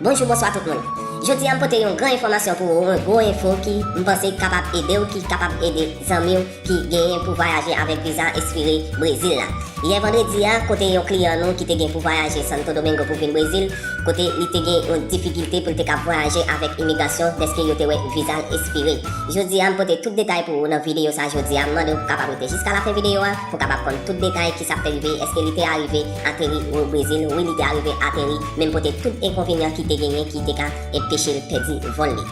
Bonjou bonswa tout moun Jodi a m pote yon gran enfòmasyon pou ou yon gwo enfo ki m panse ki kapab ede w ki kapab ede zanmi w ki genyen pou vwayaje avèk viza espire Brezil la yè vandredi a kote yon kliyan nou ki te gen pou vwayaje Santo Domingo pou vin Brezil kote li te gen yon difikilte pou l te kab vwayaje avèk imigrasyon dèske yo te wè viza l espire. Jodi a m pote tout detay pou ou nan videyo sa jodi a m mande w pou kapab rete jiska lafen videyo a pou kapab konn tout detay kisa k te rive eske li te arive ateri ou Brezil wi li te arive ateri men m pote tout enkonvenyan ki te genyen ki te ka enpeche l pèdi vòl li.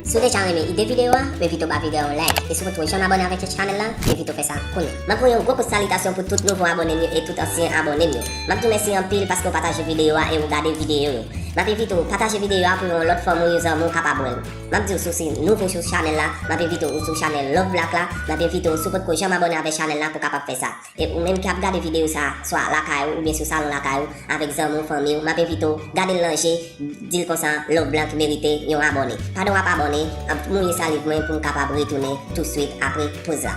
Si w deja renmen ide videyo a. Mwen evite w ba video a yon like e si w potko janm abone avek chech chanel lan mwen evite w fè sa kounye. Map voye yon gwo kout salitasyon pou tout nouvo abone m yo e tout ansyen abone m yo. Map diw mèsi anpil paske w pataje video a e ou gade video yo. Map evite w pataje video a pou yon lot fanmi w yon zanmi w kapab wèl. Map diw si w se nouvo sou chanel la map evite w ou sou chanel love black la map evite w si w potko janm abone avek chanel la pou kapab fè sa. E ou menm ki ap gade videyo sa a, swa lakay ou oubyen sou salon lakay ou, avèk zanmi w, fanmi w, m ap envite w, gade l nan je, di l konsa, Lonblanc merite yon abòne. Pandan w ap abòne, ap mouye saliv mwen pou m kapab retounen touswit apre poz la.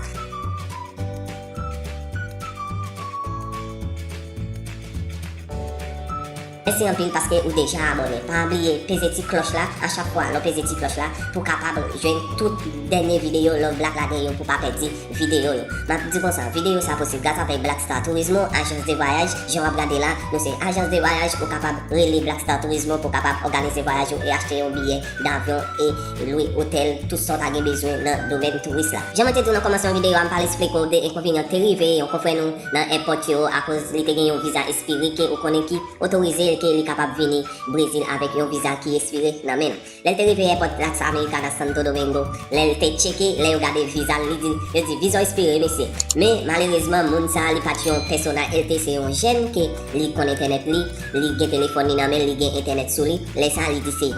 Mesi anpil paske ou deja abone pa bliye peze ti kloch la achak fwa lo peze ti kloch la pou kapab jwenn tout denye video love black lage yo pou pa pedi video yo map di konsa video sa posib gras a pay black star turismo ajans de vwayaj jan wap gade la nou se ajans de vwayaj ou kapab rele black star turismo pou kapab oganize vwayaj ou e achte yon biye davyon e lwe otel tout sa ou ta gen bezwen nan domèn touris la jan mwen te diw nan komansman video a mpale esplike w de enkonvenyan ki te rive yon konfrè nou nan èpòt yo akoz li te gen yon viza espire ke ou konnen ki otorize l ke li kapab vini Brezil avèk yon viza ki espire nan men l. Lè l te rive èpòt Las Americanas Santo Domingo, lè l te tcheke, lè yo gade viza l, li di, yo di viza w espire wi mesye. Men malerezman moun sa li pa t yon pèsona el te se yon jèn ke li konn entènèt li, li gen telefòn li nan men l, li gen entènèt sou li, lè sa li di se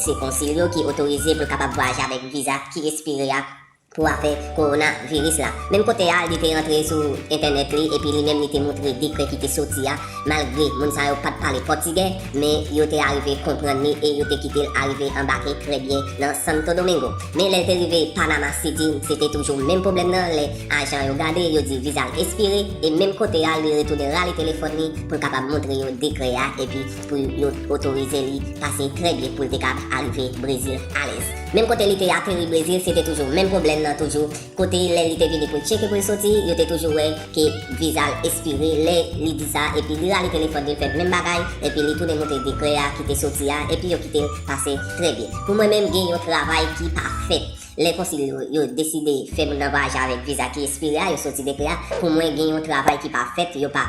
se konsil yo ki otorize pou l kapab vwayaje avèk viza ki espire a, pou afè kowona viris la. Menm kote a li te antre sou entènèt li epi li menm li te moutre dekrè ki te soti a malgre moun sa yo pat pale pòtigè men yo te arive konprann li e yo te kite l arive anbake trè byen nan Santo Domingo. Men lè l te rive Panama City se te toujou menm pwoblèm nan lè ajan yo gade yo di viza l espire e menm kote a li retounen rale telefòn li pou l kapab moutre yo dekrè a epi pou yo t otorize li pase trè byen poul te kab arive brezil alèz menm kote li te ateri brezil se te toujou menm pwoblèm nan toujou kote lè li te vini poul tcheke poul soti yo te toujou wè ke vizal espire lè li di sa epi li rale telefòn li fè menm bagay epi li tounen moutre dekrè a ki te soti a epi yo kitel pase trè byen pou mwen menm gen yon travay ki pa fèt. Lè konsil yo yo deside fè moun nan vwayaje avèk viza ki espire a yo soti depi a pou mwen gen yon travay ki pa fèt yo pa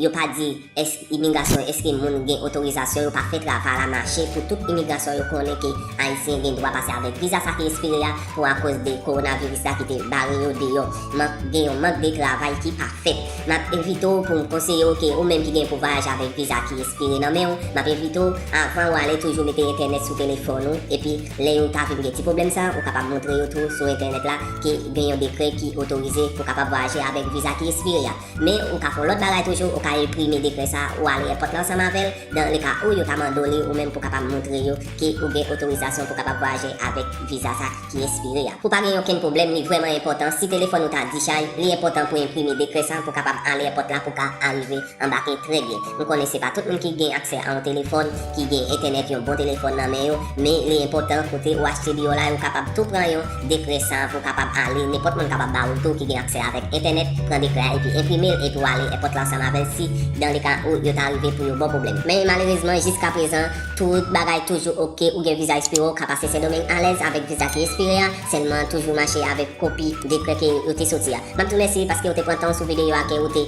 yo pa di èsk imigrasyon èske moun gen otorizasyon yo pa fè travay la mache pou tout imigrasyon yo konnen ke ayisyen gen dwa pase avèk viza sa ki espire a pou akoz de kowonaviris la ki te bare yo deyò mank gen yon mank de travay ki pa fèt map envite w pou m konseye w ke ou menm ki gen pou vwayaje avèk viza ki espire nan men w map envite w avan ou ale toujou mete entènèt sou telefòn ou epi Lè yo ta vin gen ti pwoblèm sa, ou kapab montre yo tou sou entènèt la ke gen yon dekrè ki otorize pou kapab vwayaje avèk viza ki espire a. Men, ou ka fè yon lòt bagay toujou, ou ka enprime dekrè sa, ou ale èpòt la ansanm avè l, dan le ka ou yo ta mande w li ou menm pou kapab montre yo ke ou gen otorizasyon pou kapab vwayaje avèk viza sa ki espire a. Pou pa gen okenn pwoblèm, li vrèman enpòtan, si telefòn ou ta dichay, li enpòtan pou enprime dekrè sa pou kapab ale èpòt la pou ka arive Anbake trè byen. Nou konnen se pa tout moun ki gen aksè a yon telefòn, ki gen entènèt yon bon telefòn nan men yo, men li enpòtan kote ou achte li yo la yo kapab tou pran yon dekrè sa pou w kapab ale, nenpòt moun kapab ba ou l tou ki gen aksè avèk entènèt, pran dekrè a epi enprime l epi w ale èpòt la ansanm avè l si dan le ka ou yo ta rive pou yo ba w pwoblèm. Men malerezman jiska prezan tout bagay toujou ok, ou gen viza espire ou ka pase Sendomeng alèz avèk viza ki espire a, sèlman toujou mache avèk kopi dekrè ke yo te soti a. M ap di w mèsi paske ou te pran tan w sou videyo a ke ou te.